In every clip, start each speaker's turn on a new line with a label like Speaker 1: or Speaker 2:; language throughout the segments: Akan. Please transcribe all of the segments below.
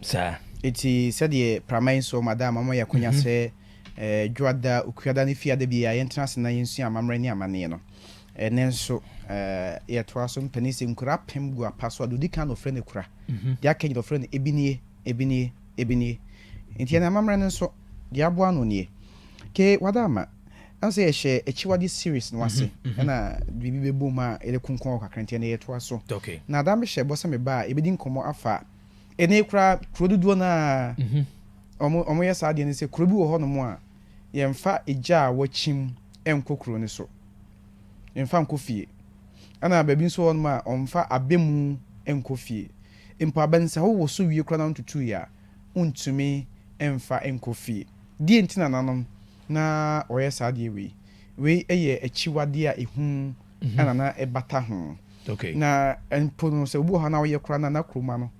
Speaker 1: Saa. Enti
Speaker 2: sɛdeɛ prama yi nsoɔ ma da ama moayɛ akwanya sɛ Dwoada, Okuada ne Fiada biara yɛntena ase na yɛnsua amammerɛ ne amanneɛ no, ɛnnɛ nso yɛtoa so. Mpanin se, Nkura apem gu apa so a, deɛ ɔdi kan na ɔfrɛ no Kura. Deɛ aka nyinaa ɔfrɛ no Ebinie, Ebinie, Ebinie. Enti yɛn amammerɛ no nso, deɛ aboa ano nie. Ke Wada ama, ɛwɔ sɛ yɛhyɛ Akyiwadeɛ series no ase, ɛna biribi bɛbom a yɛde konkɔn hɔ kakra, enti ɛnnɛ yɛtoa so. Na Ada mehyɛ
Speaker 1: bɔ sɛ
Speaker 2: meba a yɛbɛdi nkɔmmɔ afa Ene koraa kuro dodoɔ no ara wɔn wɔyɛ saa adeɛ no sɛ kuro bi wɔ hɔ nom a yɛnfa egya a wɔkyim nkɔ kuro no so yɛnfa nkɔ fie ɛna baabi nso wɔ hɔ nom a wɔnfa abɛmu nkɔ fie mpo abɛnsa wo wɔ so wie koraa na wontutu yɛ a wontumi nfa nkɔ fie deɛ nti na nanom na wɔyɛ saa adeɛ wei wei yɛ akyiwadeɛ a ɛhu. mhm. ɛna na ɛbata ho na
Speaker 1: mpo no
Speaker 2: sɛ obi wɔ hɔ na ɔyɛ koraa na na kuroma no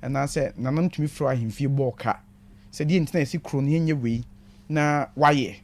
Speaker 2: anaasɛ nanom tumi frɛ ahemfie bɔɔ ka sɛ deɛ nti na yɛsi kuro no yɛnyɛ wei na wayɛ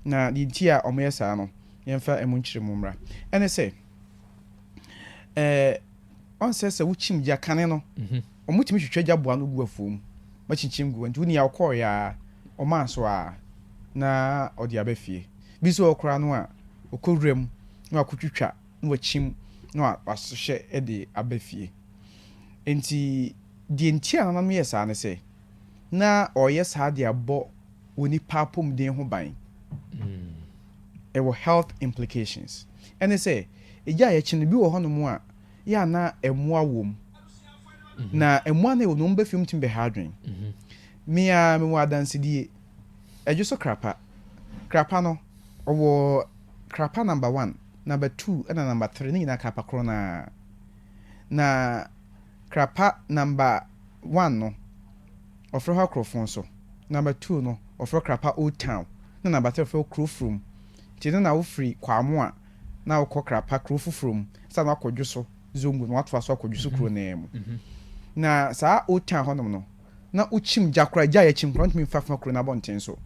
Speaker 2: na deɛ nti a wɔyɛ saa no yɛmfa ɛmu nkyerɛ mu mmra ɛne sɛ ɛɛ ɔnsɛ sɛ wokyim gya kane no. Mm-hmm. Wɔtumi twitwa gya boa no gu afuom ma kyinkyim gu nti wonia ɔkɔɔ yɛ a ɔmaa so a na ɔde aba fie. Bi nso wɔ koraa no a ɔkɔ wura mu na wakɔtwitwa na wakyim na wasohyɛ de aba fie. Nti deɛ nti a nananom yɛ saa ne sɛ na ɔreyɛ saa de abɔ onipa apɔmuden ho ban. Mm. ɛwɔ health implications. Ɛne sɛ, egya a yɛkye no, bi wɔ hɔnom a, yɛ a na mmoa wom. Na mmoa no a ɛwɔ no, wɔn bɛ fam tumi bɛha adwene. Me ara mewɔ adansedie. Ɛdwo so krapa. Krapa no, ɔwɔ krapa number one, number two ɛna number three, ne nyinaa krapa korɔ no ara. Na. Krapa number one no wɔfrɛ hɔ Akorofon so, number two no wɔfrɛ hɔ Krapa Old Town na number three wɔfrɛ hɔ Kurofurom. Nti no na wofiri Kwaamoa na wokɔ Krapa kuro foforɔ mu ansa na woakɔ Dwoso Zongo na woatoa so akɔ Dwoso kuro no ara mu. Na saa Old Town hɔ nom no na wokyim gya koraa, gya a yɛkyim koraa wontumi mfa fa kuro no abɔnten so.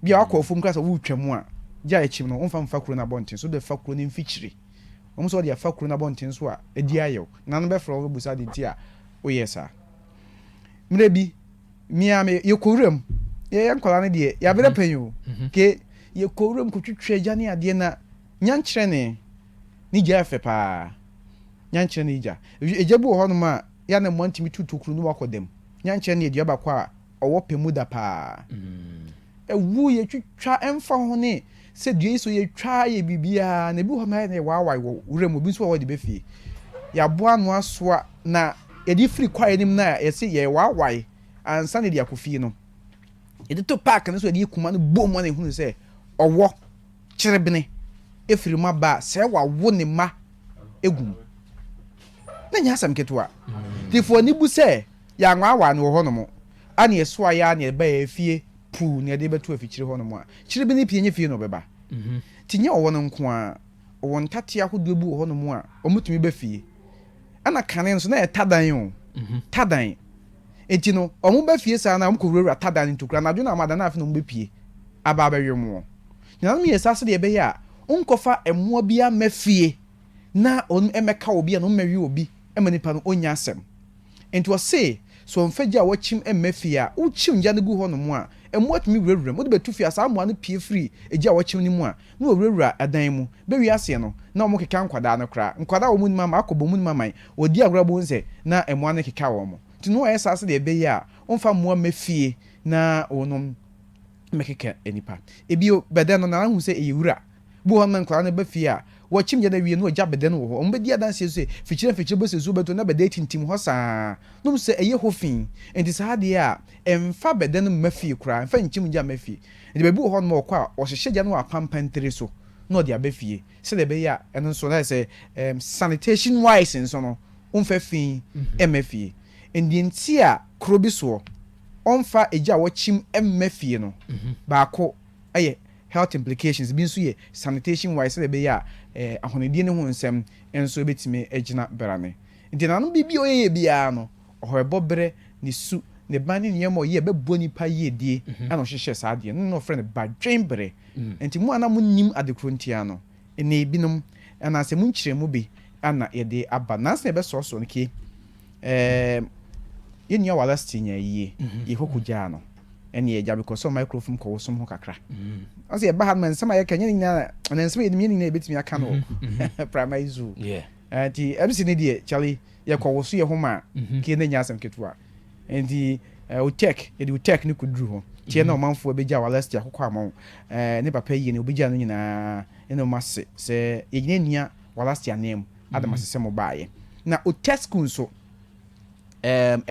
Speaker 2: Bia woakɔ afuom koraa sɛ woretwa mu a, gya a yɛkyim no womfa mfa kuro no abɔnten so, wode fa kuro no mfikyire. Wohu sɛ wɔde afa kuro no abɔnten so a adi ayɛw, na no bɛfrɛ wo abɛbisa ade nti a woyɛɛ saa. Mmerɛ bi, me ara me, yɛkɔ wuram, yɛyɛ nkwadaa no deɛ, yɛabrɛ pɛn o, ke yɛkɔ wuram kɔtwitwa agya ne adeɛ na nyankyerɛne ne gya yɛ fɛ paa, nyankyerɛne gya. Agya bi wɔ hɔnom a, yɛ a na mmoa ntumi tu tokuro no wakɔ dam, nyankyerɛne yɛ dua baako a, ɔwɔ pɛ mu da paa. Ɛwoo yɛ twitwa ɛmfa ho ne sɛ dua yi so yɛ twa yɛ biribiara na ebi wɔ hɔ na yɛ na yɛ waawaae wɔ wura mu ebi nso wɔ hɔ de bɛ fie. Yɛaboa ano asoa na yɛde firi kwaeɛ no mu na yɛse yɛ waawaae ansa na yɛde akɔ fie no. Yɛde to park no so yɛde kuma no bom ma na ehunu sɛ ɔwɔ kyerebene efiri mu aba a sɛ wawo ne mma egu mu. Na nyɛ asɛm ketewa. Nti fa w'ani bu sɛ Yɛanwaawaa no wɔ hɔnom, a nea ɛsoae ara nea ɛbae afie puu nea ɛde bɛto afikyiri hɔnom a, kyere bi ne pii nyɛ fie na ɔbɛba. Nti nyɛ ɔwɔ no nko ara, ɔwɔ ntateɛ ahodoɔ bi wɔ hɔnom a wɔtumi ba fie. Ɛna kane nso na ɛyɛ tadan o, tadan. Nti no wɔba fie saa na wɔkɔwurawura tadan no ntokura, anadwo na wɔada na afei na wɔbɛpue aba abɛwe wɔn. Nuanom yɛɛ saa sɛdeɛ ɛbɛyɛ a wonkɔfa mmoa biara mma fie na wɔmmɛka obi anaa wɔmmɛwe obi mma nipa no ɔnnya asɛm. Enti ɔse, Sɛ ɔmfa gya a wɔkyim mma fie a, wokyim gya no gu hɔnom a, mmoa tumi wurawura mu. Wode bɛto fie a, saa mmoa no pue firi gya a wɔkyim no mu a, na wɔwurawura dan mu. Bɛwie aseɛ no, na wɔkeka nkwadaa no koraa. Nkwadaa a wɔn nim ama akɔ bɔ mu no mamae. Wɔdi agorɔ a bohu sɛ na mmoa no rekeka wɔn. Enti Noa yɛ saa sɛdeɛ ɛbɛyɛ a ɔmfa mmoa mma fie na wɔnom mmɛkeka nnipa. Bio, bɛdɛn no, na ahu sɛ ɛyɛ wura. Bi wɔ hɔ a na nkwadaa no ba fie a, wɔkyim gya no awie na ogya bɛdɛn wɔ hɔ. Wɔbɛdi adanse nso sɛ mfikyire mfikyire bɔ sɛ nsuo bɛtɔ na bɛdɛn tintim hɔ saa ara nom sɛ ɛyɛ hɔ fi. Enti saa adeɛ a ɛmfa bɛdɛn mma fie koraa, ɛmfa nkyim gya mma fie. Enti baabi wɔ hɔnom a wɔkɔ a, wɔhyehyɛ gya no wɔ apampa ntire so na wɔde aba fie sɛdeɛ ɛbɛyɛ a ɛno nso ayɛ sɛ sanitation wise nso no wɔmfa fi mma fie. Enti deɛ nti a kuro bi soɔ wɔmfa gya a wɔkyim mma fie no baako yɛ. Health implications bi nso yɛ sanitation wise sɛdeɛ ɛbɛyɛ a ahonidie no ho nsɛm nso bɛtumi agyina brane. Nti nananom biribi a ɔyɛyɛ biara no ɔhɔɛbɔ berɛ, ne su, ne ban ne nneɛma a ɔyɛ a ɛbɛboa nnipa yiedie na ɔhyehyɛɛ saa adeɛ no na ɔfrɛ no badwenbere. Nti mo a na monnim adekoro ntia no, Ene ebinom, anaase emu nkyeremu bi na yɛde aba. Nansa na yɛbɛsɔɔsɔɔ no kie, eem, yɛn nua Wallace tee nyaa yie, yɛkɔkɔ gyaa no, ene yɛgya mekɔsɔɔ microfom kɔɔ ɔsom ho kakra. Ɔse yɛba ha nom nsɛm a yɛka, nyɛ ne nyinaa na, anaa nsɛm a yɛnim, nyɛ ne nyinaa na yɛbɛtumi aka no wɔ Primary Zoo. Nti MC no deɛ, Charlie, yɛkɔwoso yɛn ho maa kie na ɛnyɛ asɛm ketewa. Enti eh, Utech, yɛde Utech no kɔduru hɔ. Teɛ na mhm. ɔmanfoɔ bɛgya wɔ Alestia kɔkɔ ama wo. Eh, ne papa yie no, wobɛgya no nyinaa ne no ma se sɛ yɛgyina nnua wɔ Alestia nan mu. Adam mhm. ase sɛ mobaaeɛ. Na Utech school nso, eh,